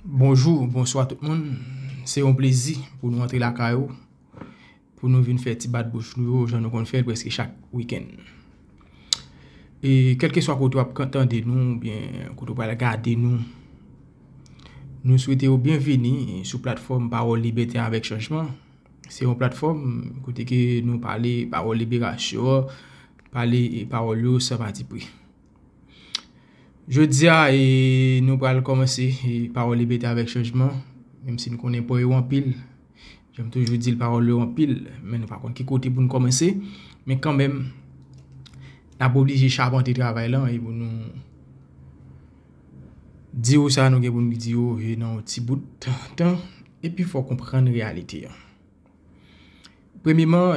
Bonjou, bonswa tout moun. Se yon plezi pou nou antre lakay ou, pou nou vin fè ti bat bouch nou yo jan nou konn fè l prèske chak wikenn. E kèlke swa kote w ap tande nou oubyen kote w pral gade nou, nou swete ou byenvini sou platfòm Pawòl Libète avèk Chanjman. Se yon platfòm kote ke nou pale pawòl liberasyon, pale pawòl yo san pati pri. Jodi a e nou pral kòmanse pawòl libète avèk chanjman, menm si nou konnen pwen yo anpil, jan m toujou di l pawòl yo anpil, men nou pa konn ki kote pou nou kòmanse, men kanmenm n ap oblije chapante travay lan e pou nou di yo sa nou gen pou nou di yo nan yon ti bout tan. Epi fò w konprann reyalite an. Premyeman,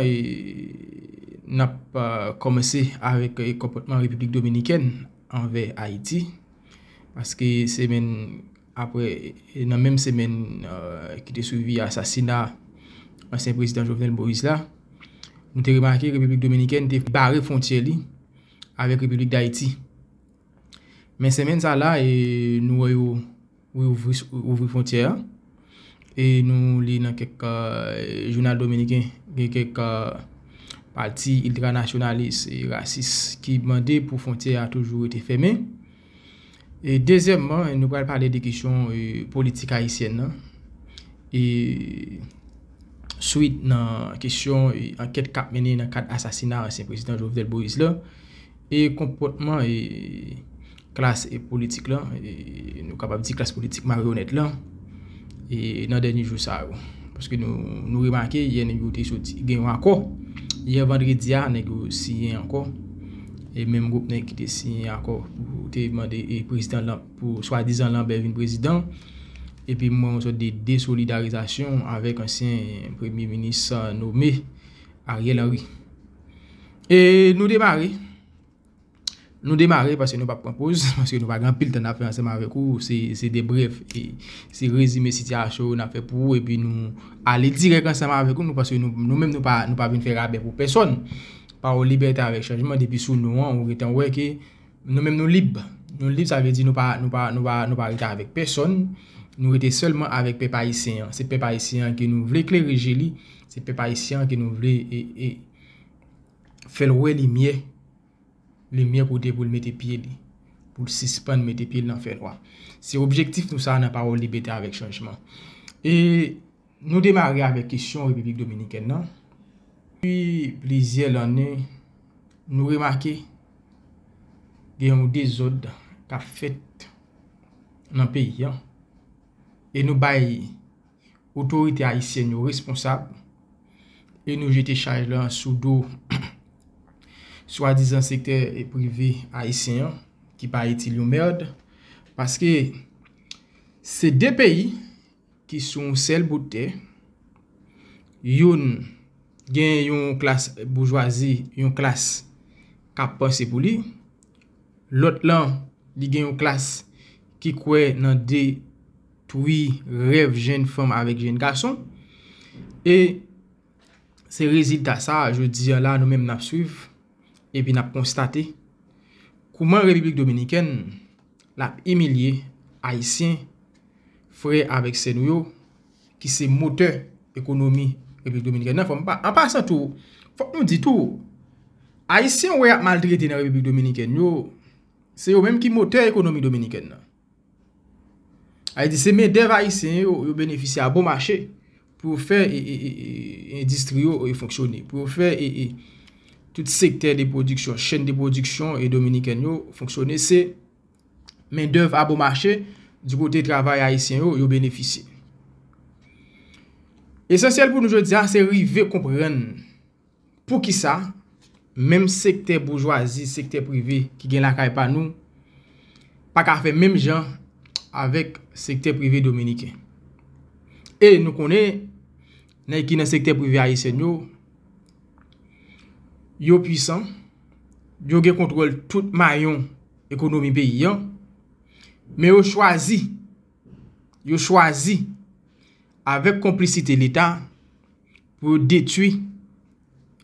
n ap kòmanse avèk konpòtman Repiblik Dominikèn anvè Ayiti. Paske semèn apre, nan menm semèn ki te swivi asasina ansyen prezidan Jovenel Moïse la, nou te remake Repiblik Dominikèn te bare fwontyè li avèk Repiblik Dayiti. Men semèn sa la, nou wè yo wi ouvri fontyè a e nou li nan kèk jounal dominiken gen kèk pati iltranasyonalis e rasis ki mande pou fontyè a toujou rete fèmen e dezyèmman nou pral pale de kesyon politik ayisyèn nan e swit nan kesyon ankèt k ap mennen nan kad asasina ansyen prezidan Jovenel Moïse la. E konpòtman e klas e politik lan, e nou kapab di klas politik maryonèt lan, e nan dènye jou sa yo. Paske nou remake, yè nèg yo te soti gen yon akò. Yè vandredi a, nèg yo siyen ankò. E menm gwoup nèg ki te siyen akò pou te mande e prezidan lan, pou swa dizan Lanbè vin prezidan. E pi mwen yon sòt de desolidarizasyon avèk ansyen premye minis nome Ariel Henry. E nou demare, nou demare paske nou pap pran poz, paske nou pa gen anpil tan nan ap fè ansanm avèk ou, se de brèf, se rezime sitiyasyon nan ap fè pou ou, epi nou ale dirèk ansanm avèk ou, nou paske nou menm nou pa vin fè rabè pou pèsòn, pa ou libète avèk chanjman, depi sou nou an, ou gen tan wè ke. Nou menm nou lib. Nou lib sa vle di nou pa rete avèk pèsòn, nou rete sèlman avèk pèp ayisyen an. Se pèp ayisyen an ke nou vle klere je li, se pèp ayisyen an ke nou vle fè l wè limyè, limyè kote pou l mete pye li, pou l sispann mete pye l nan fènwa. Se objektif nou sa nan Pawòl Libète avèk Chanjman. E. Nou demare avèk kesyon Repiblik Dominikèn nan. Depi plizyè lanne, nou remake gen yon dezòd k ap fèt nan peyi an. E nou bay otorite ayisyèn yo responsab e nou jete chaj la sou do swadizan sektè prive ayisyen an ki pa itil yon mèrd. Paske se de peyi. ki sou yon sèl bout tè, youn gen yon klas boujwazi, yon klas k ap panse pou li, lòt lan li gen yon klas ki kwè nan detwi rèv jenn fanm avèk jenn gason, e se rezilta sa a jodi a la nou menm n ap swiv epi n ap konstate kouman Repiblik Dominikèn. Lap imilye Ayisyen, frè avèk sè nou yo, ki se motè ekonomi Repiblik Dominikèn nan. An pasan tou, fòk nou di tou, Ayisyen ou wè yap maltrete nan Repiblik Dominikèn yo, se yo menm ki motè ekonomi Dominikèn nan. Sa vle di se mendèv Ayisyen yo, yo benefisye a bon mache. pou yo fè endistri yo fonksyone, pou yo fè tout sektè de pwodiksyon, chèn de pwodiksyon dominikèn yo fonksyone, se mendèv a bon mache, di kote travay ayisyen yo, yo benefisye. Esansyèl pou nou jodi a, se rive konprann. Poukisa menm sektè boujwazi, sektè prive ki gen lakay pa nou pa ka fè menm jan avèk sektè prive dominiken? E nou konnen nèg ki nan sektè prive ayisyen yo, yo pwisan, yo gen kontwòl tout mayon ekonomi peyi an, men yo chwazi, yo chwazi avèk konplisite leta, pou yo detui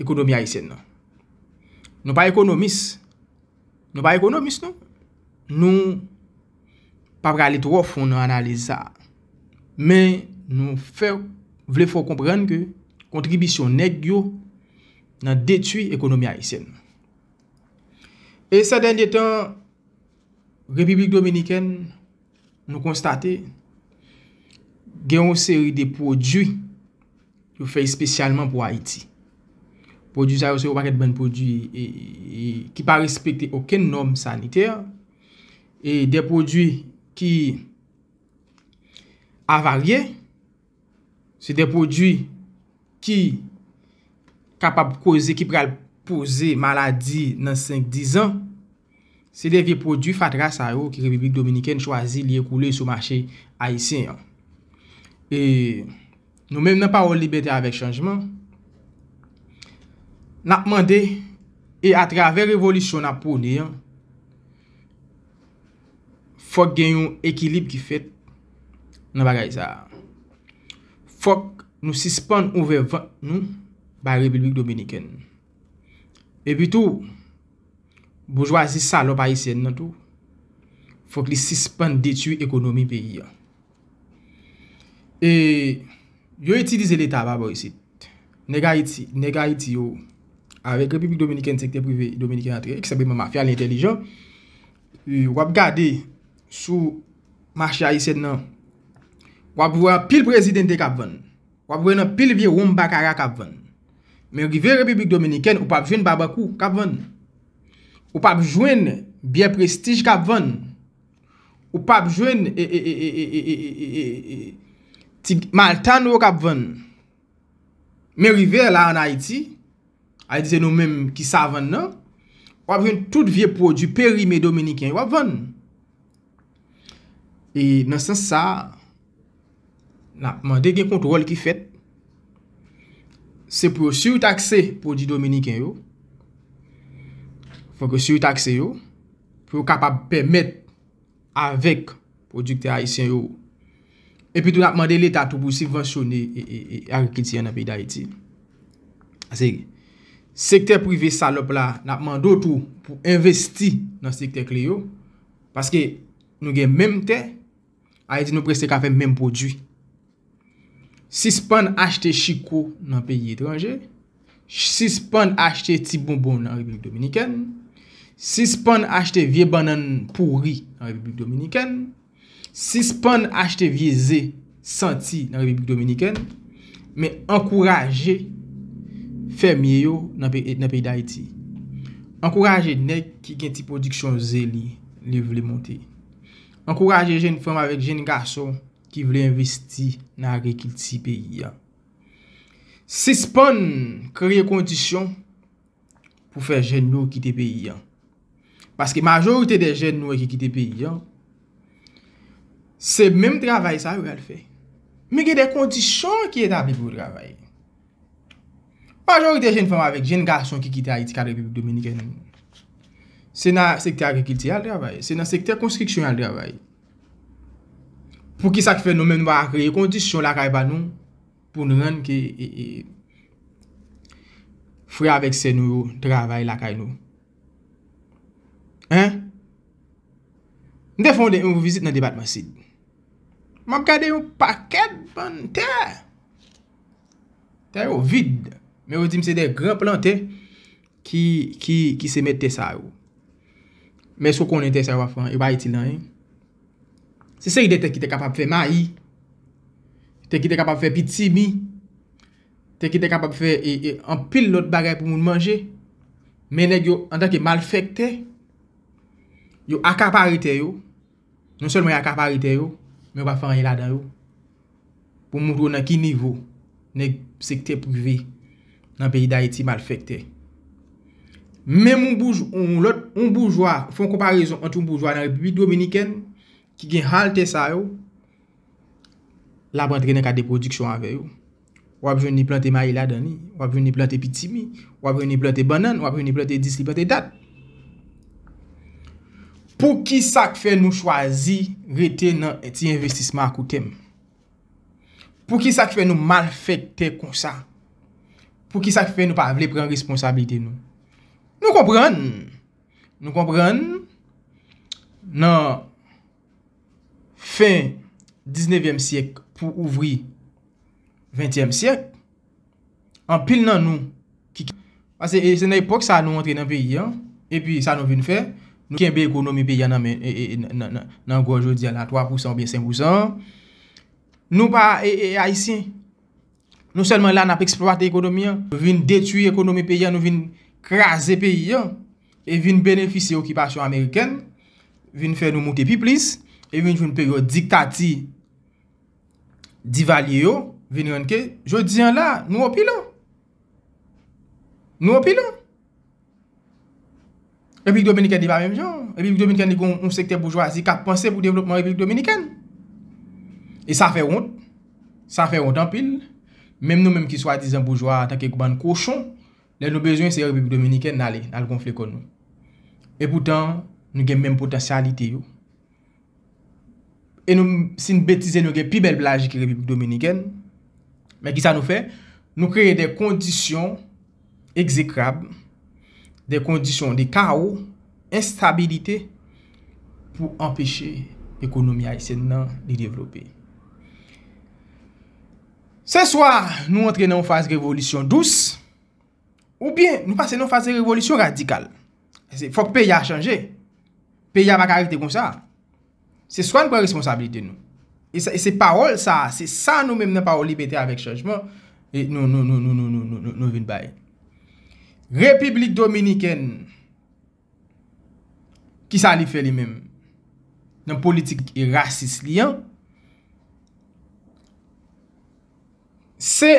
ekonomi Ayisyèn nan. Nou pa ekonomis, nou pa ekonomis nou, nou pa prale twò fon nan analiz sa. Men nou fè, vle fè w konprann ke kontribisyon nèg yo nan detui ekonomi Ayisyèn nan. E sè dènye tan, Repiblik Dominikèn Nou konstate gen yon seri de pwodui yo fè espesyalman pou Ayiti. Pwodui sa yo se yon pakèt bann pwodui ki pa respekte okenn nòm sanitè. E de pwodui ki avarye. Se de pwodui ki kapab koze, ki pral poze maladi nan 5-10 an. Se de vye pwodui fatra sa yo ki Repiblik Dominikèn chwazi li ekoule sou mache Ayisyen an. E nou menm nan Pawòl Libète avèk Chanjman, n ap mande e atravè revolisyon n ap pwone an, fòk gen yon ekilib ki fèt nan bagay sa. Fòk nou sispann ouvè vant nou bay Repiblik Dominikèn. Epi tou, boujwazi salòp ayisyèn nan tou, fòk li sispann detui ekonomi peyi an. E yo itilize leta pa bò isit. Nèg Ayiti, nèg Ayiti yo avèk Repiblik Dominikèn sektè prive Dominikèn antre, ki senpleman mafya li entèlijan. W ap gade sou mache Ayisyen nan, w ap wè anpil prezidente k ap vann. W ap wè nan pil vye wonm bakara k ap vann. Men rive Repiblik Dominikèn, ou p ap jwenn Babakou k ap vann. Ou p ap jwenn byè prestij k ap vann. Ou pap jwenn ti malta nou yo kap vann. Men rive la an Ayiti, Ayiti se nou menm ki savann nan, wap jwenn tout vye pwodwi perime dominiken yo wap vann. E nan sans sa a. N ap mande gen kontwòl ki fèt. Se pou yo sitakse pwodui dominiken yo. Fòk yo sitakse yo. Pou yo kapab pèmèt avèk pwodiktè ayisyen yo. E pi tou n ap mande leta tou pou sibvansyone agrikilti an nan peyi Dayiti. Ase, sektè prive salòp la, n ap mande ou tou pou envesti nan sektè kle yo. Paske nou gen menm tè. Ayiti nou prese ka fè menm pwodui. Sispann achte chiko nan peyi etranje, sispann achte ti bonbon nan Repiblik Dominikèn, sispann achte vye bannann pouri nan Repiblik Dominikèn, sispann achte vye ze santi nan Repiblik Dominikèn, men ankouraje fèmye yo nan peyi Dayiti. Ankouraje nèg ki gen ti pwodiksyon ze li, li vle monte. Ankouraje jenn fanm avèk jenn gason ki vle envesti nan agrikilti peyi a. Sispann kreye kondisyon pou fè jenn yo kite peyi a. Paske majorite de jenn nou e ki kite peyi a, se menm travay sa yo yal fè. Men gen de kondisyon ki etabli pou yo travay. Majorite jenn fanm avèk jenn gason ki kite Ayiti k al Repiblik Dominikèn, se nan sektè agrikilti y al travay, se nan sektè konstriksyon y al travay. Pouki sa k fè nou menm nou pa ka kreye kondisyon lakay pa nou pou nou rann ke frè avèk sè nou yo travay lakay nou? Hein? M te fè yon vizit nan depatman Sid. M ap gade yon pakèt bann tè. Tè yo vid, men yo di m se de gran plantè ki seme tè sa yo. Men sou konnen tè sa yo ap fè, yo pa itil anyen. Se seri de tè ki te kapab fè mayi, tè ki te kapab fè pitimi, tè ki te kapab fè anpil lòt bagay pou moun manje. Men nèg yo, antanke malfèktè, yo akapare tè yo. Non sèlman y akapare tè yo, men yo pa fè anyen ladan yo. Pou m montre w nan ki nivo nèg sektè prive nan peyi Dayiti malfèktè. Menm yon boujwa, yon lòt, yon boujwa, fè yon konparezon ant yon boujwa nan Repiblik Dominikèn ki gen halte sa yo, l ap antre nan kade pwodiksyon avè yo. w ap jwenn li plante mayi ladan li, w ap jwenn li plante pitimi, w ap jwenn li plante bannann, w ap jwenn li plante dis, li plante dat. Pou ki sa k fè nou chwazi rete nan ti envestisman a kou tèm? Pou ki sa k fè nou malfèktè konsa? Pou ki sa k fè nou pa vle pran responsabilite nou? Nou konprann, nou konprann nan. fen diznevyèm syèk pou ouvri ventyèm syèk, anpil nan nou ki kenbe pase e se nan epòk sa nou antre nan peyi an, epi sa nou vin fè, nou kenbe ekonomi peyi an nan men nan gòj yo di a la 3 pousan oubyen 5 pousan an, nou pa e ayisyen. Non sèlman la nap eksplwate ekonomi an, nou vin detwi ekonomi peyi an, nou vin kraze peyi an, e vin benefisye okipasyon amerikèn, vin fè nou moute pi plis, e vin jwenn peryòd diktati Divalye yo, vin rann ke, jodi an la, nou opilan. Nou opilan. Repiblik Dominikèn li pa menm jan. Repiblik Dominikèn li gen yon sektè boujwazi k ap panse pou devlopman Repiblik Dominikèn. E sa fè wont. Sa fè wont anpil. Menm nou menm ki swadizan boujwa antan ke bann kochon, lè nou bezwen se Repiblik Dominikèn n ale, n al gonfle kò nou. E poutan, nou gen menm potansyalite yo. E nou si n betize nou gen pi bèl plaj ke Repiblik Dominikèn. Men ki sa nou fè? Nou kreye de kondisyon ekzekrab, de kondisyon de kawo, enstabilite pou anpeche ekonomi ayisyèn nan li devlope. Se swa nou antre nan yon faz revolisyon dous. Ou byen nou pase nan faz de revolisyon radikal. Fok peyi a chanje. Peyi a pa ka rete konsa. Se swa nou pran responsabilite nou. E se pawol sa, se sa nou menm nan pawol libète avèk chanjman nou vin bay. Repiblik Dominikèn, ki sa li fè li menm? Nan politik e rasis li an, se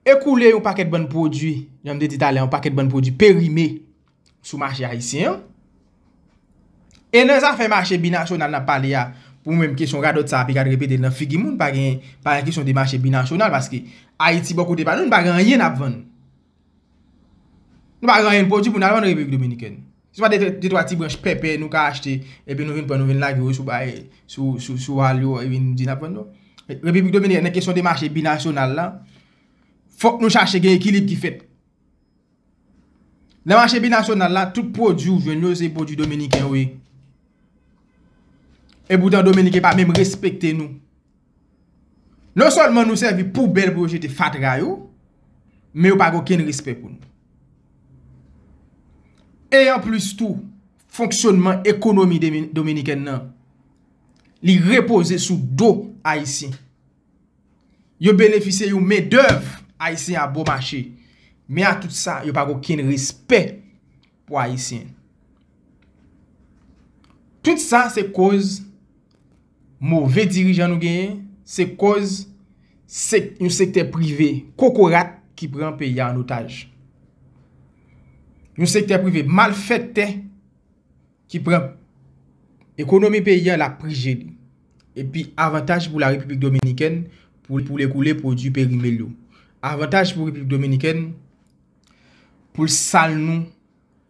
ekoule yon pakèt bann pwodui, jan m te di talè, yon pakèt bann pwodui perime sou mache ayisyen an. E nan zafè mache binasyonal n ap pale a, pou mwen menm kesyon radòt sa a pi ka repete l nan figi moun, pa gen kesyon de mache binasyonal paske Ayiti bò kote pa nou, nou pa gen anyen n ap vann. Nou pa gen anyen n pwodui pou n al vann Repiblik Dominikèn. Se pa de twa ti branch pèpè nou ka achte epi nou vin pran nou vin lage yo sou bay, sou wal yo epi nou di n ap vann yo. Repiblik Dominikèn nan kesyon de mache binasyonal la, fòk nou chache gen ekilib ki fèt. Nan mache binasyonal la, tout pwodui ou jwenn yo se pwodui Dominiken yo ye. Epoutan Dominiken pa menm respekte nou. Non sèlman nou sèvi poubèl pou yo jete fatra yo, men yo pa gen okenn respè pou nou. E anplis tou, fonksyònman ekonomi dominikèn nan, li repoze sou do Ayisyen. Yo benefisye yon mendèv Ayisyen a bon mache, men a tout sa, yo pa gen okenn respè. pou ayisyen. Tout sa se koz move dirijan nou genyen, se koz yon sektè prive kokorat ki pran peyi a an otaj. Yon sektè prive malfèktè ki pran ekonomi peyi a la prije li. E pi avantaj pou la Repiblik Dominikèn pou l ekoule pwodui perimil yo. Avantaj pou Repiblik Dominikèn. pou l sal nou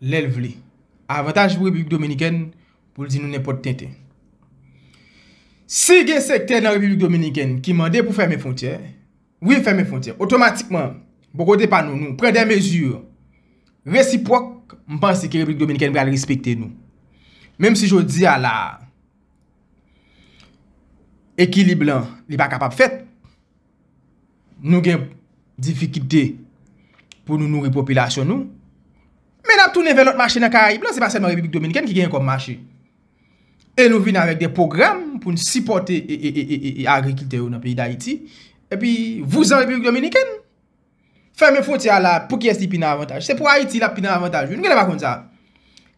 lè l vle. Avantaj pou Repiblik Dominikèn pou l di nou nenpòt tenten. Si gen sektè nan Repiblik Dominikèn ki mande pou fèmen fwontyè, wi fèmen fwontyè, otomatikman, bò kote pa nou, nou pran de mezi resipwòk, m panse ke Repiblik Dominikèn pral respekte nou. Menm si jodi a la, ekilib lan li pa kapab fèt, nou gen difikite pou nou nouri popilasyon nou, men n ap tounen vè lòt mache nan karayib la, se pa sèlman Repiblik Dominikèn ki genyen kòm mache. E nou vin avèk de pwogram pou nou sipòte e agrikiltè yo nan peyi Dayiti, epi vouzan Repiblik Dominikèn. Fèmen fwontyè a la, pou kiyès li pi nan avantaj? Se pou Ayiti l ap pi nan avantaj wi, nou genlè pa konn sa.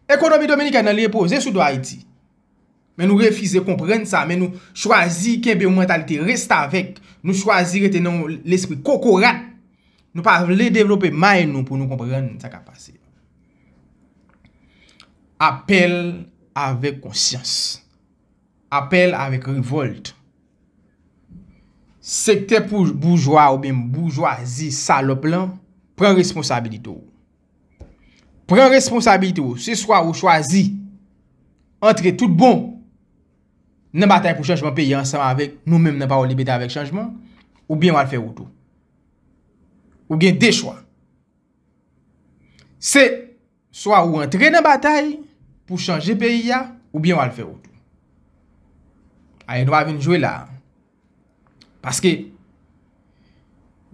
Ekonomi Dominikèn nan li repoze sou do Ayiti. Men nou refize konprann sa, men nou chwazi kenbe yon mantalite restavèk, nou chwazi rete nan yon lespri kokorat, nou pa vle devlope may nou pou nou konprann sa k ap pase. Apèl avèk konsyans. Apèl avèk revòlt. Sektè pou boujwa oubyen boujwazi salòp lan, pran responsabilite w. Pran responsabilite w, se swa ou chwazi antre tout bon nan batay pou chanjman peyi ansanm avèk nou menm nan Pawòl Libète avèk Chanjman, oubyen w al fè wout ou. Ou gen 2 chwa. Se swa ou antre nan batay pou chanje peyi a, oubyen w al fè wout ou. Aye nou pa vin jwe la. Paske,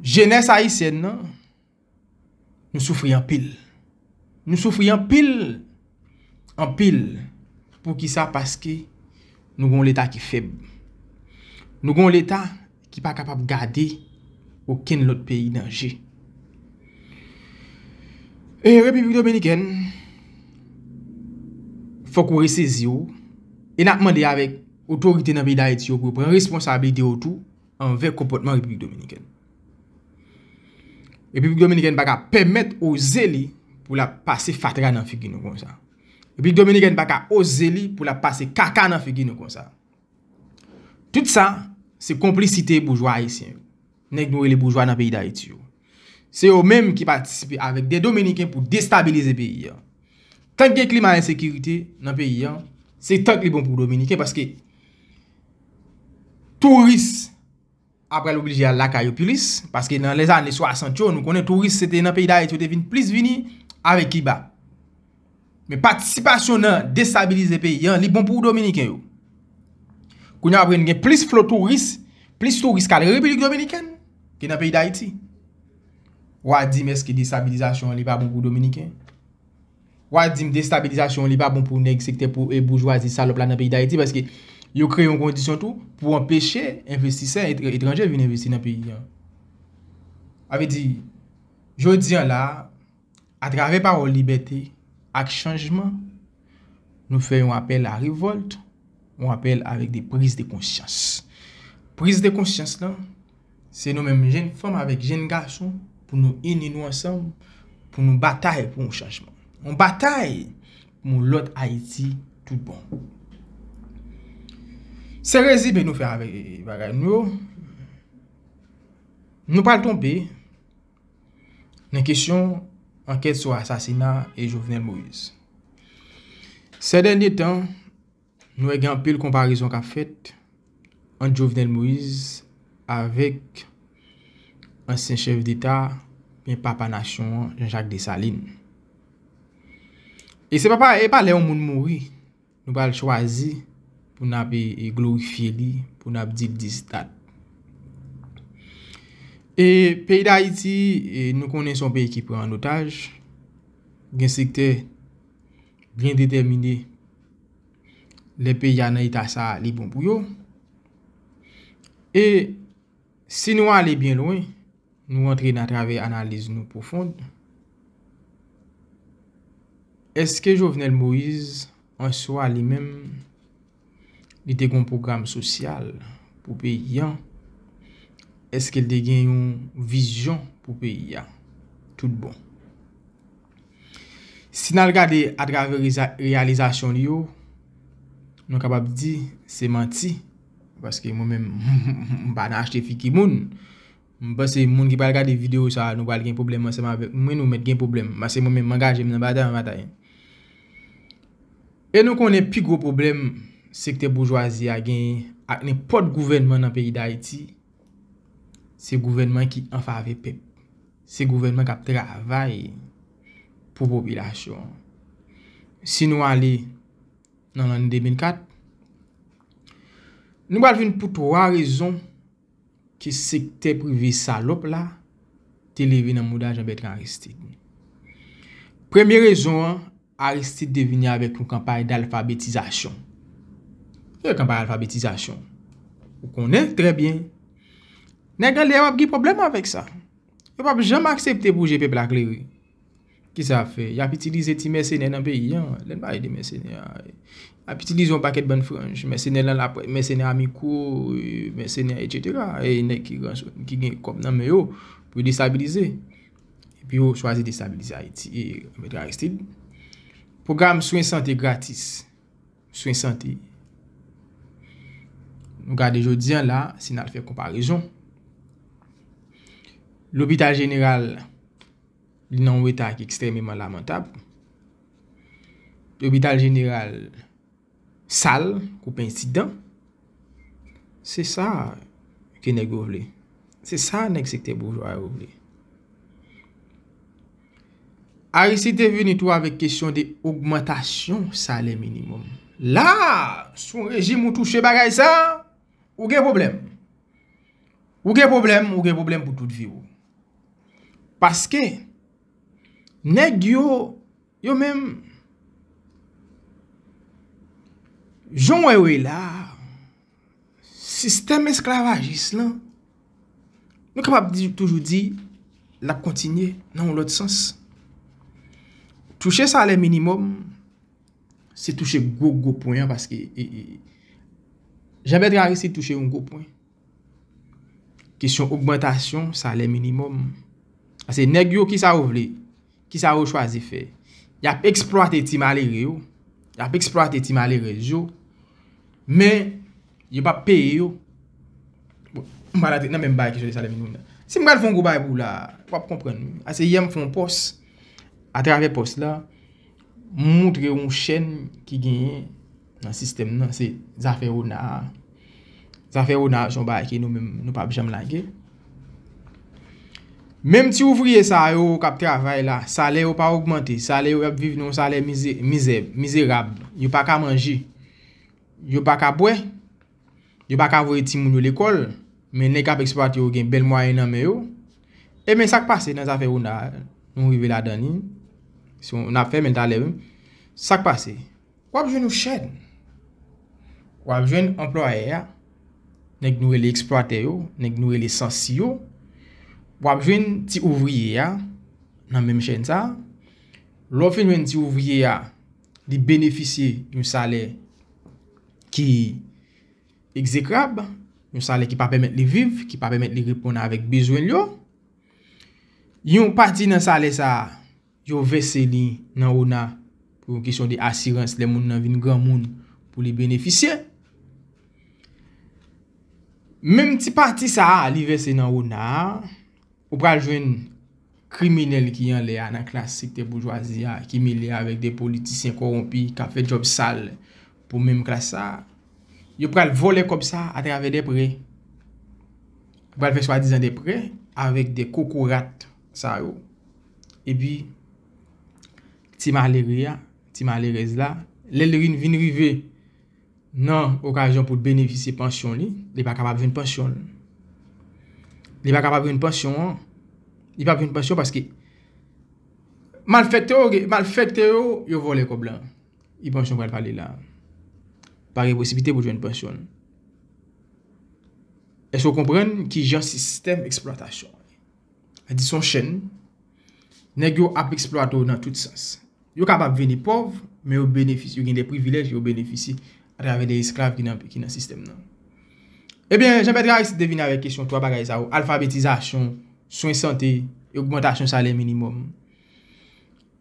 jenès Ayisyèn nan, Nou soufri anpil. Nou soufri anpil, anpil. Pou ki sa? Paske nou gen yon leta ki fèb. Nou gen yon leta ki pa kapab gade okenn lòt peyi nan je. E Repiblik Dominikèn, fòk ou resezi w. E n ap mande avèk otorite nan peyi Dayiti yo pou yo pran responsabilite yo tou. anvè konpòtman Repiblik Dominikèn. Repiblik Dominikèn pa ka pèmèt oze li pou l ap pase fatra nan figi nou konsa. Repiblik Dominikèn pa ka oze li pou l ap pase kaka nan figi nou konsa. Tout sa, se konplisite boujwa ayisyen yo. Nèg nou rele boujwa nan peyi Dayiti yo. Se yo menm ki patisipe avèk de dominiken pou destabilize peyi an. Tank gen klima ensekirite nan peyi an, se tank li bon pou dominiken paske touris ap pral oblije al lakay yo plis paske nan lè zane 60 yo nou konnen touris se te nan peyi dayiti yo te vin plis vini avèk kiba. Men patisipasyon nan destabilize peyi an, li bon pou dominiken yo. Kounye apre n gen plis flo touris, plis touris kal repiblik dominiken, ki nan peyi dayiti. Wa di m eske destabilizasyon an li pa bon pou dominiken? Wa di m destabilizasyon an li pa bon pou nèg sektè pou e boujwazi salop la nan peyi dayiti? Paske yo kreye yon kondisyon tou pou anpeche envestisè etranje vin envesti nan peyi an. Avedi, jodi an la, Atravè pawòl libète ak chanjman, nou fè yon apèl a revòlt, yon apèl avèk de priz de konsyans. Priz de konsyans lan, se nou menm jenn fanm avèk jenn gason pou nou ini nou ansanm, pou nou batay pou yon chanjman. Yon batay pou yon lòt Ayiti tout bon. Se rezime nou fè avèk bagay nou yo. Nou pral tonbe. nan kesyon ankèt sou asasina e Jovenel Moïse. Sè dènye tan, nou wè gen anpil konparezon k ap fèt ant Jovenel Moïse avèk ansyen chèf deta oubyen papa nasyon an Jean Jacques Dessalines. E se pa lè yon moun mouri. Nou pral chwazi pou n ap glorifye li, pou n ap di l dis dat. E peyi Dayiti, nou konnen son peyi ki pran an otaj, gen sektè byen detèmine lè peyi a nan eta sa li bon pou yo. E. Si nou ale byen lwen, nou rantre nan travè analiz nou pwofond, èske Jovenel Moïse an swa li menm li te gen yon pwogram sosyal pou peyi an? Èske li te gen yon vizyon pou peyi a tout bon? Si n al gade atravè reyalizasyon li yo, nou kapab di se manti. Paske mwen menm m pa nan achte figi moun. M panse moun ki pral gade video sa nou pral gen pwoblèm ansanm avèk mwen nou mèt gen pwoblèm. Paske mwen menm m angaje m nan batay mwen batay. E nou konnen pi gwo pwoblèm sektè boujwazi a genyen ak nenpòt gouvènman nan peyi Dayiti se gouvènman ki anfave pèp. Se gouvènman k ap travay pou popilasyon. Si nou ale. nan lanne 2004, nou pral jwenn pou 3 rezon ke sektè prive salop la te leve nan mouda Jean Bertrand Aristide. Premye rezon an, Aristide te vini avek yon kanpay d'alfabetizasyon. Ki yon kanpay alfabetizasyon? Ou konnen trè byen. Nèg anlè yo ap gen pwoblèm avek sa. Yo pap janm aksepte pou je pèp la klere. Kisa yap fè? Yap itilize ti mèsenè nan peyi an. Lè n pale de mèsenè a, yap itilize yon pakèt bann franj. Mèsenè lan lap, mèsenè a mikwo, mèsenè a etsetera. E nèg ki gran, ki gen kòb nan men yo pou yo destabilize. Epi yo chwazi destabilize Ayiti. E Mèt Aristid, pwogram swen sante gratis. Swen sante. Nou gade jodi an la, si n al fè konparezon. Lopital jeneral Li nan yon eta ki ekstrememan lamantab. Lopital jeneral sal kou pen ti dan. Se sa ke nèg yo vle. Se sa nèg sektè boujwa yo vle. Aristide te vini tou avèk kesyon de ogmantasyon salè minimum. La! Si yon rejim ou touche bagay sa, ou gen pwoblèm. Ou gen pwoblèm, ou gen pwoblèm pou tout vi ou. Paske, nèg yo, yo menm, jan w wè yo ye la, sistèm esklavajis lan, nou kapab toujou di, l ap kontinye nan yon lòt sans. Touche salè minimòm. Se touche gwo gwo pwen an paske Jean Bertrand Aristide touche yon gwo pwen. Kesyon ogmantasyon salè minimòm. Ase nèg yo kisa yo vle? Kisa yo chwazi fè? Y ap eksplwate ti malere yo. Y ap eksplwate ti malerèz yo. Men, yo pa peye yo. M pa nan menm bay kesyon salè minimòm nan. Si m pral fè yon gwo bay pou w la, w ap konprann. Ase yè m fè yon pòs, atravè pòs la. M moutre w yon chèn ki genyen nan sistèm nan se zafè Rona a. Zafè Rona a se yon bagay ke nou menm nou pap janm lage. Menm ti ouvriye sa yo k ap travay la, salè yo pa ogmante. Salè yo y ap viv nan yon salè mizè, mizerab. Yo pa ka manje. Yo pa ka bwè. yo pa ka voye timoun yo lekòl, men nèg kap eksplwate yo gen bèl mwayen nan men yo, ebyen sak pase nan zafè Ona a, nou rive ladan li, nap fèmen talè wi, sak pase, wap jwenn yon chèn, wap jwenn anplwayè a, nèg nou rele eksplwatè yo, nèg nou rele sansi yo, wap jwenn ti ouvriye a, nan menm chèn sa, lè w fin jwenn ti ouvriye a, li benefisye yon salè. ki egzekrab, yon salè ki pa pèmèt li viv, ki pa pèmèt li reponn avèk bezwen l yo. Yon pati nan salè sa, yo vèse li nan ona pou yon kesyon de asirans lè moun nan vin granmoun pou li benefisye. Menm ti pati sa a li vèse nan ona a, Ou pral jwenn kriminèl ki anlè a nan klas sektè boujwazi a ki mele avèk de politisyen kowonpi k ap fè djòb sal pou menm klas sa a. Yo pral vòlè kòb sa a atravè de prè. Yo pral fè swadizan de prè avèk de kokorat sa yo. Epi, ti malere a, ti malerèz la, lè l vin rive. nan okazyon pou l benefisye pansyon li, li pa kapab jwenn pansyon l. Li pa kapab jwenn pansyon an. Li pa p jwenn pansyon paske malfèktè yo, malfèktè yo, yo vòlè kòb la. Ki pansyon m pral pale la? Pa gen posiblite pou l jwenn pansyon l. Èske w konprann ki jan sistèm eksplwatasyon an ye? Sa di son chèn. Nèg yo ap eksplwate w nan tout sans. Yo kapab vini pòv, men yo benefisye, yo gen de privilèj, yo benefisye atravè de esklav ki nan sistèm nan. Ebyen, Jean Bertrand Aristide te vini avèk kesyon 3 bagay sa yo, alfabetizasyon, swen sante, e ogmantasyon salè minimòm.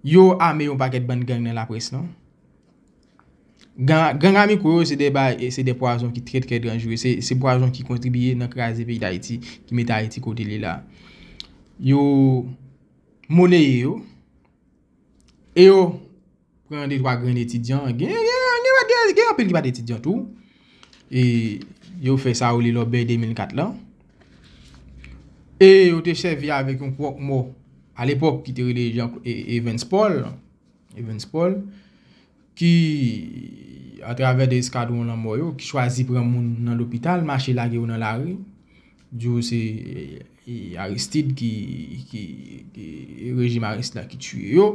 Yo ame yon pakèt bann gang nan laprès lan. Ganga micro yo se de pwazon ki trè trè danjre, se pwazon ki kontribiye nan kraze peyi dayiti, ki mete ayiti kote li la. Yo moneye yo, e yo pran de twa grenn etidyan, gen anpil ki pa t etidyan tou, e yo fè sa yo rele lòbèy 2004 lan, e yo te sèvi avèk yon kwòk mò, alepòk ki te rele Evans Paul, Evans Paul, ki atravè 2 eskadwon lanmò yo, ki chwazi pran moun nan lopital, mache lage yo nan lari, di yo se Aristide ki, rejim Aristide la ki tiye yo.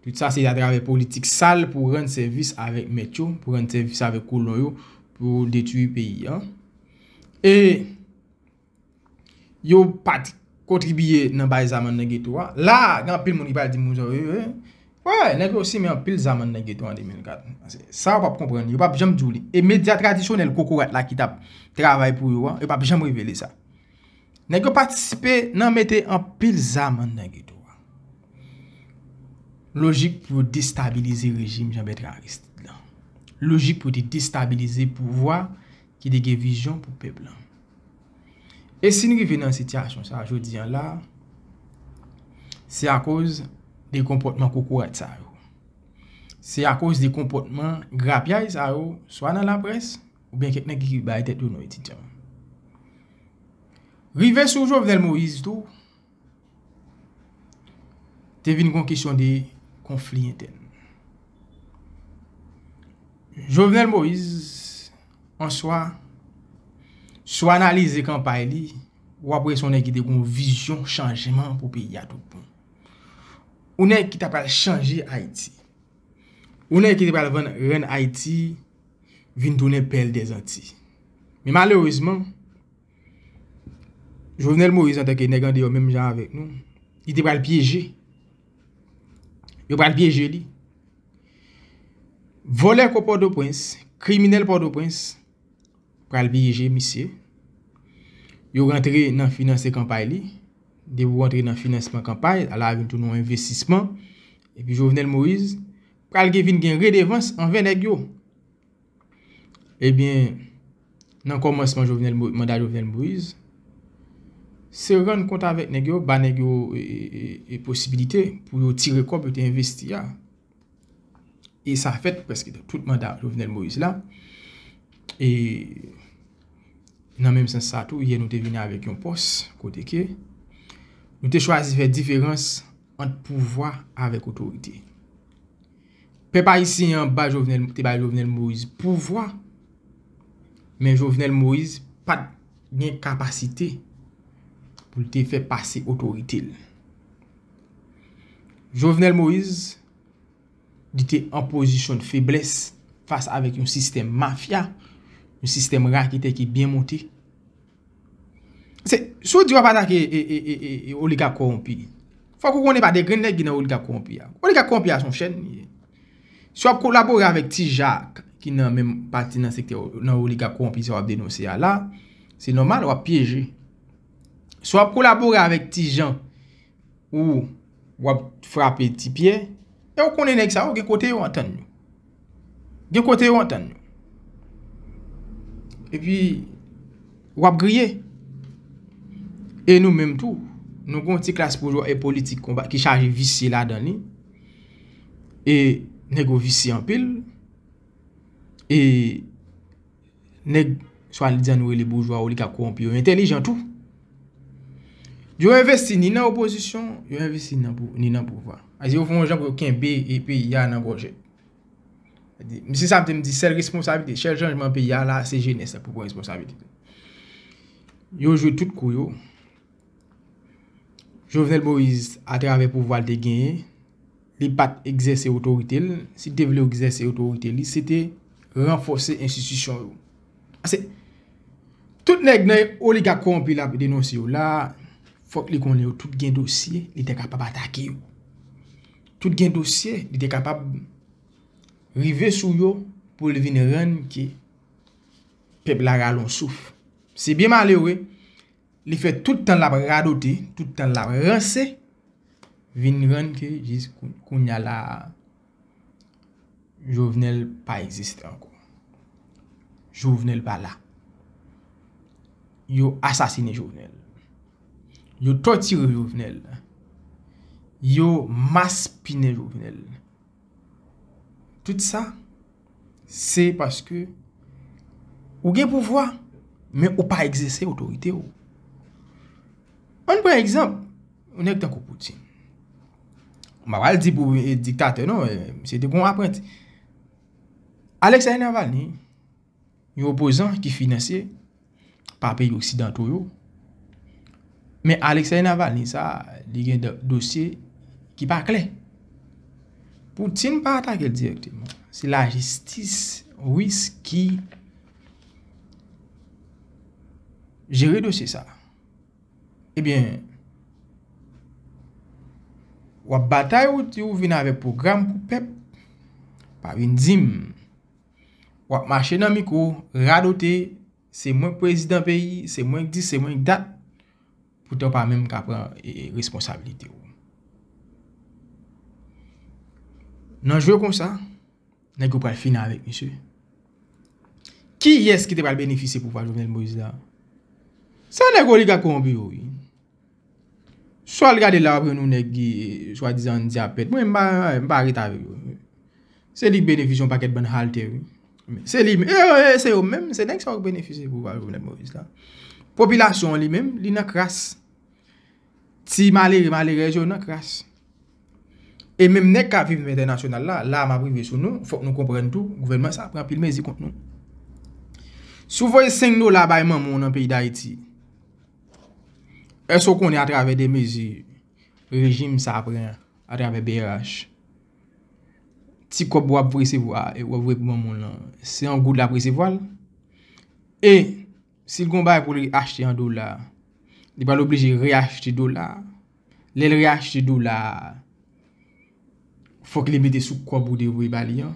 Tout sa se atravè politik sal pou rann sèvis avèk mèt yo, pou rann sèvis avèk kolon yo, pou detwi peyi an. E. yo pa t kontribiye nan bay zam nan geto a. La a, gen anpil moun ki pral di m, wè, nèg yo simen anpil zam nan geto a an 2004. Sa yo pa p konprann, yo pa p janm di w li. E medya tradisyonèl kokorat la ki t ap travay pou yo an, yo pa p janm revele sa. Nèg yo patisipe nan mete anpil zam nan geto a. Lojik pou yo destabilize rejim Janbètra Aristid la. Lojik pou yo te destabilize pouvwa ki te gen vizyon pou pèp la. E si n rive nan sitiyasyon sa jodi an la, se akoz de konpòtman kokorat sa yo. Se akoz de konpòtman grapyay sa yo, swa nan laprès, ou byen kèk nèg ki bay tèt yo non etidyan. Rive sou Jovenel Moïse tou, te vin gon kesyon de konfli entèn. Jovenel Moise an swa, si w analize kanpay li, w ap wè se yon nèg ki te gon vizyon chanjman pou peyi a tout bon. Yon nèg ki ta pral chanje Ayiti. Yon nèg ki te pral rann Ayiti vin tounen pèl dèzanti. Men malerezman, Jovenel Moïse antanke nèg andeyò menm jan avèk nou, li te pral pyeje. Yo pral pyeje li. Volè ko Pòtoprens, kriminèl Pòtoprens pral pyeje misye. Yo rantre nan finanse kanpay li. Depi ou rantre nan finansman kanpay, ala vin tou nou envesisman. Epi Jovenel Moïse pral gen vin gen redevans anvè nèg yo. Ebyen, nan kòmansman Jovenel, manda Jovenel Moise, se rann kont avèk nèg yo, ba nèg yo posibilite pou yo tire kòb yo te envesti a. E sa fèt prèske nan tout manda Jovenel Moise la. E nan menm sans sa tou, yè nou te vini avèk yon pòs kote ke nou te chwazi fè diferans ant pouvwa avèk otorite. Pèp ayisyen an ba Jovenel te bay Jovenel Moise pouvwa men Jovenel Moise pat gen kapasite pou l te fè pase otorite l. Jovenel Moise li te an pozisyon de feblès fas avèk yon sistèm mafya, yon sistèm raketè ki byen monte. Se, si w di w ap atake oligak kowonpi, fòk ou konnen pa de grenn nèg ki nan oligak kowonpi a. Oligak kowonpi a se yon chèn li ye. Si w ap kolabore avèk ti jak ki nan menm pati nan sektè nan oligak kowonpi sa w ap denonse a la, se nòmal w ap pyeje. Si w ap kolabore avèk ti jan ou w ap frape ti pyè, e w konnen nèg sa yo gen kote yo antann yo. Gen kote yo antann yo. E pi, w ap griye. E nou menm tou, nou gen yon ti klas boujwa e politik ki chaje visye ladan li. E nèg yo visye anpil. E. Nèg swadizan nou rele boujwa oligak kowonpi yo entelijan tou. Yo envesti ni nan opozisyon, yo envesti ni nan pouvwa. Aze yo fon jan pou yo kenbe e peyi a nan gòje. Msi sa mte mdi sèl responsabilite, sèl chanjman peyi a la se jenès la pou pran responsabilite. Yo jwe tout kou yo Jovenel Moïse a travè pouvwa l te genyen, li pa t egzèse otorite l. Si l te vle egzèse otorite li, se te ranfòse enstitisyon yo. Pase, tout nèg nan oligak kowonpi l ap denonse yo la, fòk li konnen yo tout gen dosye, li te kapab atake yo. Tout gen dosye, li te kapab rive sou yo pou li vin rann ke pèp la ralon souf. Se byen malere. Li fè tout tan lap radote, tout tan lap ranse, vin rann ke jis kounya la a, Jovenel pa egziste ankò. Jovenel pa la. Yo asasine Jovenel. Yo tòtire Jovenel. Yo maspinen Jovenel. Tout sa, se paske ou gen pouvwa, men ou pa egzese otorite ou. An pran egzanp, yon nèg tankou Poutine. M pa pral di pou diktatè non, misye te gon apranti. Alexeï Navalny, Yon opozan ki finanse pa peyi oksidanto yo. Men Alexei Navalny sa a, li gen dosye ki pa klè. Poutine pa atake l direkteman. Se la jistis Ris ki jere dosye sa a. Ebyen, wap batay ou di ou vin avèk pwogram pou pèp, pa vin di m. wap mache nan mikro radote se mwen k prezidan peyi se mwen k dis se mwen k dat poutan w pa menm ka pran responsabilite w nan jwe konsa nèg yo pral fini avèk misye kiyès ki te pral benefisye pouvwa Jovenel Moïse la se nèg oligak kowonpi yo wi Sa wal gade la wap jwenn yon nèg ki swa dizan andyapèt mwen m pa ret avèk yo se li k benefis yon pakèt bann halte wi se li menm se yo menm se nèg sa yo k benefis pouvwa Jovenel Moïse la popilasyon an li menm li nan kras ti malere malerèz yo nan kras e menm nèg kap viv nan entènasyonal la la map rive sou nou fòk nou konprann tou gouvènman sa pran anpil mezi kont nou si w voye 5 dola bay manman w nan peyi Dayiti Èske ou konnen atravè de mezi rejim sa pran atravè brh, ti kòb wap resevwa e wap voye pou manman w lan, se an goud lap resevwa l? E, si l gen yon bagay pou l achte an dola, li pral oblije reachte dola? Lèl re achte dola a fòk li mete sou kòb ou te voye ba li an.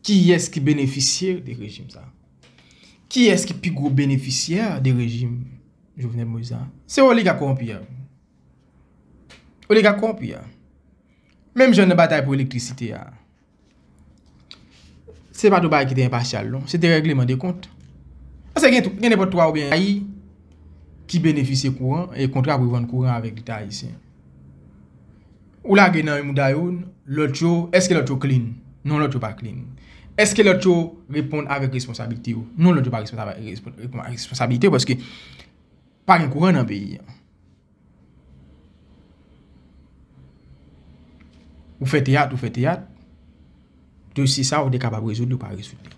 Kiyès ki benefisye de rejim sa? Kiyès ki pi gwo benefisyè de rejim Jovenel Moïse la? Se oliga kowonpi yo. Oliga kowonpi yo. Menm jan nan batay pou elektrisite a. Se pa t yon bagay ki te enpasyal non, se te règleman de kont. Pase gen tou, gen nenpòt 3 oubyen yon peyi ki benefisye kouran e kontra pou vann kouran avèk leta ayisyen. Ou lage nan yon mouda youn, lòt yo, èske lòt yo klin? Non lòt yo pa klin. Èske lòt yo reponn avèk responsabilite yo? Non lòt yo pa reponn avèk responsabilite yo paske pa gen kouran nan peyi an. Ou fè teyat, ou fè teyat, dosye sa ou te kapab rezoud li ou pa rezoud li.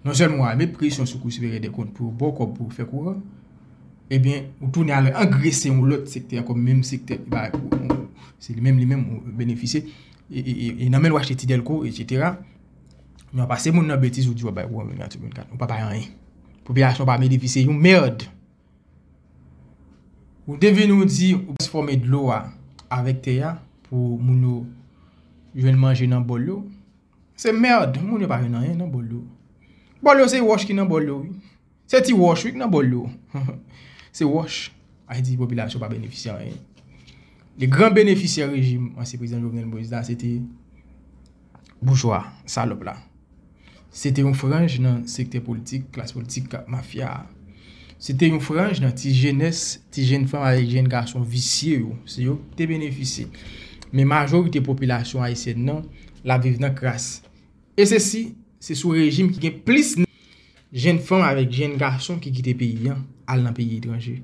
Non sèlman wap met presyon sou kou siperyè dè kont pou baw kòb pou fè kou an, ebyen ou tounen al angrese yon lòt sektè ankò menm sektè ki bay kou an, se li menm li menm ou benefisye, e nan menl wap achte ti dèlko etc. Men wap pase moun nan betiz ou di wap bay kou an 24 sou 24, ou pa bay anyen. Popilasyon pa benefisye yon merd. Ou te vin ou di ou transfòme dlo a avèk tè a pou moun yo jwenn manje nan bòl yo. Se merd, moun yo pa jwenn anyen nan bòl yo. Bòl yo se wòch ki nan bòl yo wi. Se ti wòch wi ki nan bòl yo. Se wòch. Sa vle di popilasyon pa benefisye anyen. Le gran benefisyè rejim ansyen prezidan Jovenel Moïse la se te Boujwa salòp la. Se te yon franj nan sektè politik, klas politik mafya a. Se te yon franj nan ti jenès, ti jenn fanm avèk jenn gason visye yo. Se yo ki te benefisye. Men majorite popilasyon ayisyèn nan, l ap viv nan kras. E se si, se sou rejim ki gen plis nan jenn fanm avèk jenn gason ki kite peyi an, al nan peyi etranje.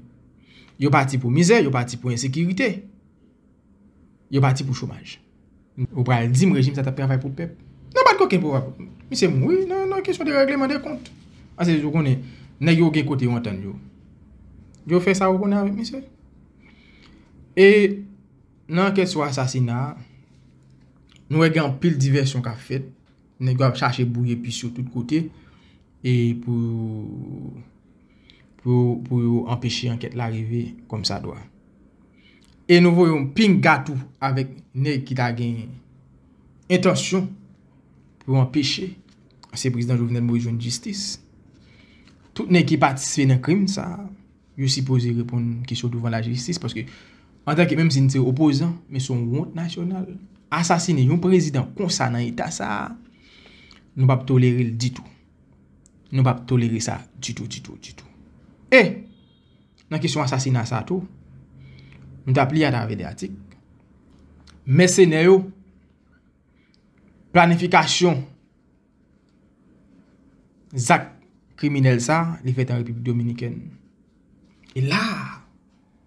Yo pati pou mizè, yo pati pou ensekirite. Yo pati pou chomaj. Ou pral dim rejim sa tap travay pou pèp? Nan bat koken pou wap. Misye mouri nan kesyon de regleman de kont. Ase ou konnen nèg yo gen kote yo antann yo. Yo fè sa ou konnen avèk misye. E nan ankèt sou asasina a, nou wè gen anpil divèsyon kap fèt. Nèg yo ap chache bouye pis yo tout kote. E pou pou yo anpeche ankèt la rive kòmsadwa. e nou voye yon pinga tou avèk nèg ki ta gen entansyon pou yo anpeche ansyen prezidan Jovenel Moïse jwenn jistis. Tout nèg ki patisipe nan krim sa a, yo sipoze reponn kesyon douvan lajistis paske antanke menm si n se opozan, men se yon wont nasyonal. Asasine yon prezidan konsa nan eta sa a, nou p ap tolere l ditou. Nou p ap tolere sa ditou, ditou, ditou. E! nan kesyon asasina sa tou, m t ap li atravè de atik, mèsenè yo, planifikasyon zak kriminèl sa li fèt an Repiblik Dominikèn. E la,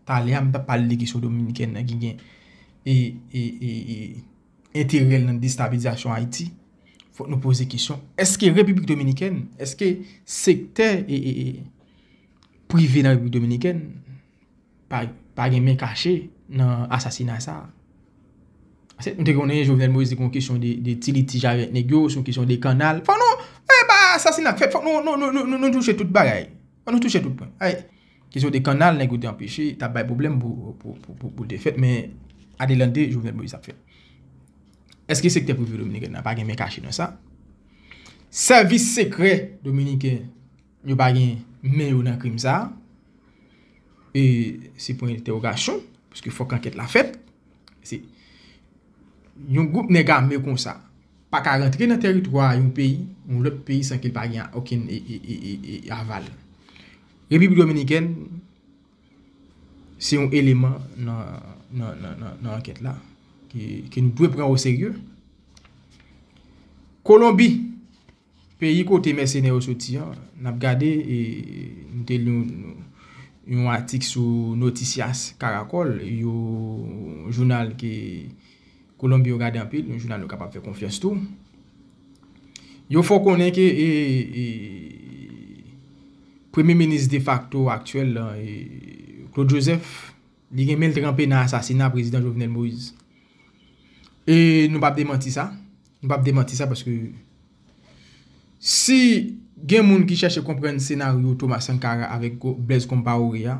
talè a m t ap pale de kesyon Dominikèn nan ki gen enterèl nan destabilizasyon Ayiti, fòk nou poze kesyon, eske Repiblik Dominikèn, eske sektè e... prive nan Repiblik Dominikèn pa gen men kache nan asasina sa. Ase nou te konnen Jovenel Moïse se kon kesyon de ti litij avèk nèg yo, se yon kesyon de kannal. Fòk nou, e pa asasina k fèt, fòk nou touche tout bagay. Fòk nou touche tout pwen. Ay, kesyon de kannal nèg yo te anpeche, t ap bay pwoblèm pou l te fèt men adelante Jovenel Moïse ap fèt. Eske sektè prive Dominikèn nan pa gen men kache nan sa? Sèvis sekrè Dominiken Yo pa gen men yo nan krim sa a. E se pwen entèwogasyon, paske fòk ankèt la fèt. Se yon gwoup nèg ame kon sa, pa ka rantre nan tèritwa yon peyi, yon lòt peyi san ke l pa gen okenn aval. Repiblik Dominikèn, se yon eleman nan ankèt la, ke nou dwe pran o serye. Kolonbi. Peyi kote mèsenè yo soti an, n ap gade, m te li yon atik sou Noticias Caracol, yon jounal ke Kolonbi yo gade anpil, yon jounal yo kapab fè konfyans tou. Yo fè w konnen ke premye minis defakto aktyèl la, Claude Joseph, Li gen men l tranpe nan asasina prezidan Jovenel Moïse. E nou pap demanti sa. Nou pap demanti sa paske si gen moun ki chache konprann senaryo Thomas Sankara avèk Blaise Compaoré a,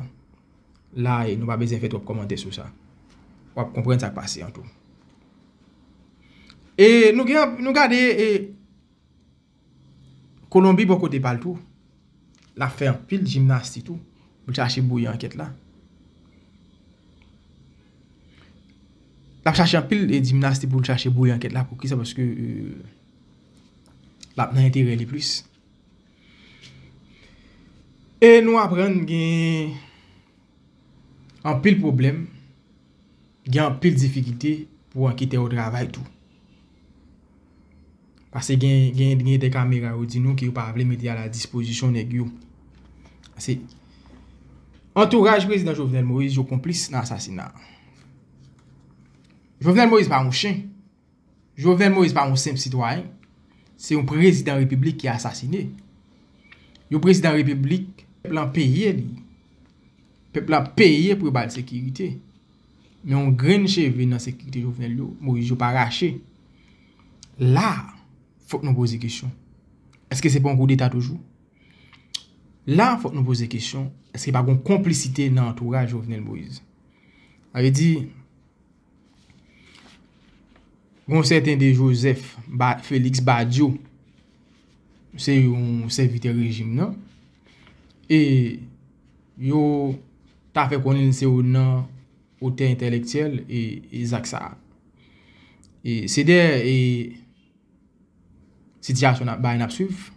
la e nou pa bezwen fè twòp kòmantè sou sa. W ap konprann sa k pase an tou. E nou gen nou gade e. Kolonbi bò kote pa l tou, l ap fè anpil jimnasti tou pou l chache bouyi ankèt la. L ap chache anpil jimnasti pou l chache bouyi ankèt la. Poukisa? Paske l ap nan enterè li plis. E nou aprann gen anpil pwoblèm. Gen anpil difikilte pou anketè yo travay tou. Pase gen de kamera yo di nou ke yo pa vle mete a la dispozisyon nèg yo. Pase antouraj prezidan Jovenel Moïse yo konplis nan asasina. Jovenel Moïse pa yon chen. Jovenel Moïse pa yon senp sitwayen, se yon prezidan repiblik ki asasine. Yon prezidan repiblik, pèp lan peye li. Pèp lan peye pou yo ba l sekirite. Men yon grenn cheve nan sekirite Jovenel Moïse yo pa rache. La, fòk nou poze kesyon. Eske se pa yon koudeta toujou? La, fòk nou poze kesyon. Eske pa gen yon konplisite nan antouraj Jovenel Moïse? Sa vle di... Yon sèten de Jozèf Feliks Badyo se yon sèvitè rejim nan e yo ta fè konnen se yon nan otè entèlektyèl e zak sa a. Se dèyè e Sitiyasyon nap bay nap swiv.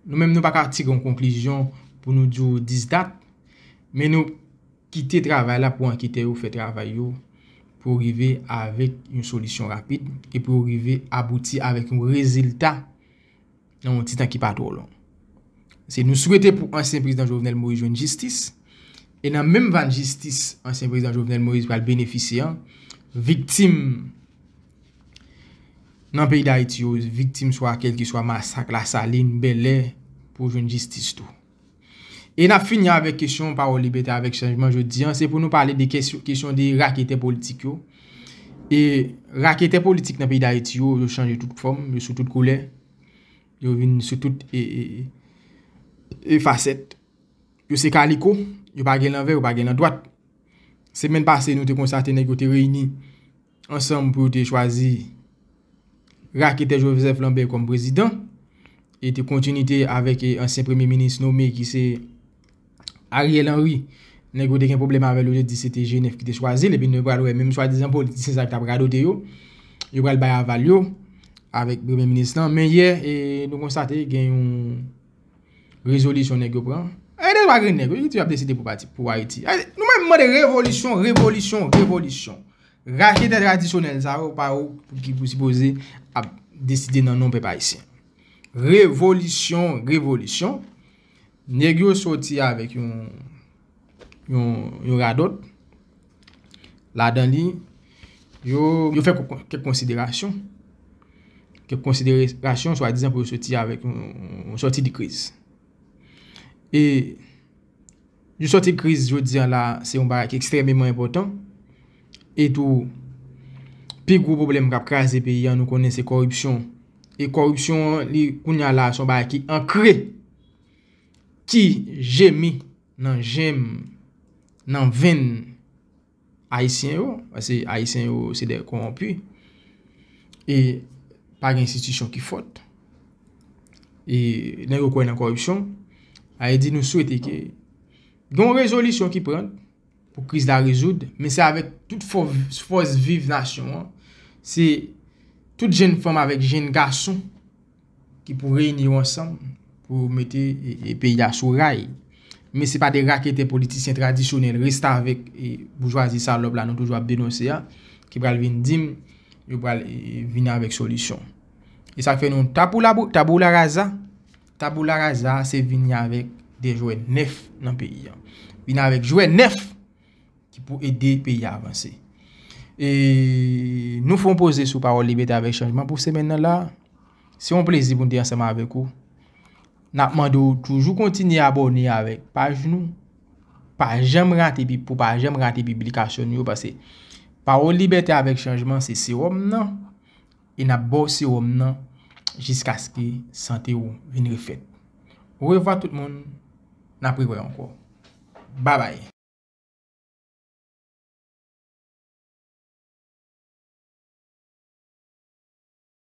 Nou menm nou pa ka tire yon konklizyon pou nou di w 10 dat. Men nou kite travay la pou anketè yo fè travay yo pou yo rive avèk yon solisyon rapid e pou yo rive abouti avèk yon rezilta nan yon ti tan ki pa twò lon. Se nou swete pou ansyen prezidan Jovenel Moïse jwenn jistis e nan menm vann jistis ansyen prezidan Jovenel Moïse pral benefisye an, viktim nan peyi Dayiti yo viktim swa kèlkeswa masak Lasalin, Bèlè pou jwenn jistis tou. E n ap fini avèk kesyon Pawòl Libète avèk Chanjman jodi an se pou nou pale de kesyon de raketè politik yo. E raketè politik nan peyi Dayiti yo yo chanje tout fòm, yo sou tout koulè, yo vin sou tout e fasèt. Yo se kaliko, yo pa gen lanvè, yo pa gen landwat. Semèn pase nou te konstate nèg yo te reyini. ansanm pou yo te chwazi raketè Joseph Lambert kòm prezidan e te kontinite avèk ansyen premye minis nome ki se Ariel Henry nèg yo te gen pwoblèm avèl yo te di se te Genèf ki te chwazil epi nou pral wè menm swadizan politisyen sa ki t ap radote yo yo pral bay aval yo avèk premye minis lan men yè nou konstate gen yon rezolisyon nèg yo pran e de lwa grenn nèg yo ki toujou ap deside pou pati pou Ayiti nou menm mande revolisyon revolisyon revolisyon. Rache tè tradisyonèl sa yo pa yo ki pou sipoze ap deside nan non pèp ayisyen. Revolisyon, revolisyon, nèg yo soti avèk yon radòt, ladan li, yo fè kèk konsiderasyon, kèk konsiderasyon swa dizan pou yo soti avèk yon soti de kriz. E. Nou sòti kriz jodi an la se yon bagay ki ekstrèmeman enpòtan. E tou, pi gwo pwoblèm k ap kraze peyi an nou konnen se kòripsyon. E kòripsyon an li kounye a la se yon bagay ki ankre, ki jemi nan jèm, nan venn. Ayisyen yo, pase Ayisyen yo se de konwonpi, e pa gen enstitisyon ki fòt, e nèg yo kwè nan kòripsyon, a e di nou swete ke gen yon rezolisyon ki pran pou kriz la rezoud, men se avèk tout fòs viv nasyon an, se tout jenn fanm avèk jenn gason, ki pou reyini yo ansanm pou mete peyi a sou ray. Men se pa de raketè politisyen tradisyonèl restavèk e boujwazi salòp la nou toujou ap denonse a ki pral vin di m yo pral vin avèk solisyon. E sa k fè nou taboularaza, taboularaza se vini avèk de jwè nèf nan peyi a. Vini avèk jwè nèf ki pou ede peyi a avanse. E nou fon poze sou pawòl libète avèk chanjman pou semèn nan la. Se yon plezi pou n te ansanm avèk ou. N ap mande ou toujou kontinye abòne avèk paj nou. Pa janm rate pi pou pa janm rate piblikasyon nou yo pase. Pawòl libète avèk chanjman se sewòm nan. e n ap ba w sewòm nan jiskaske sante w vin refèt. Orevwa tout moun, n ap rewè ankò. Babay!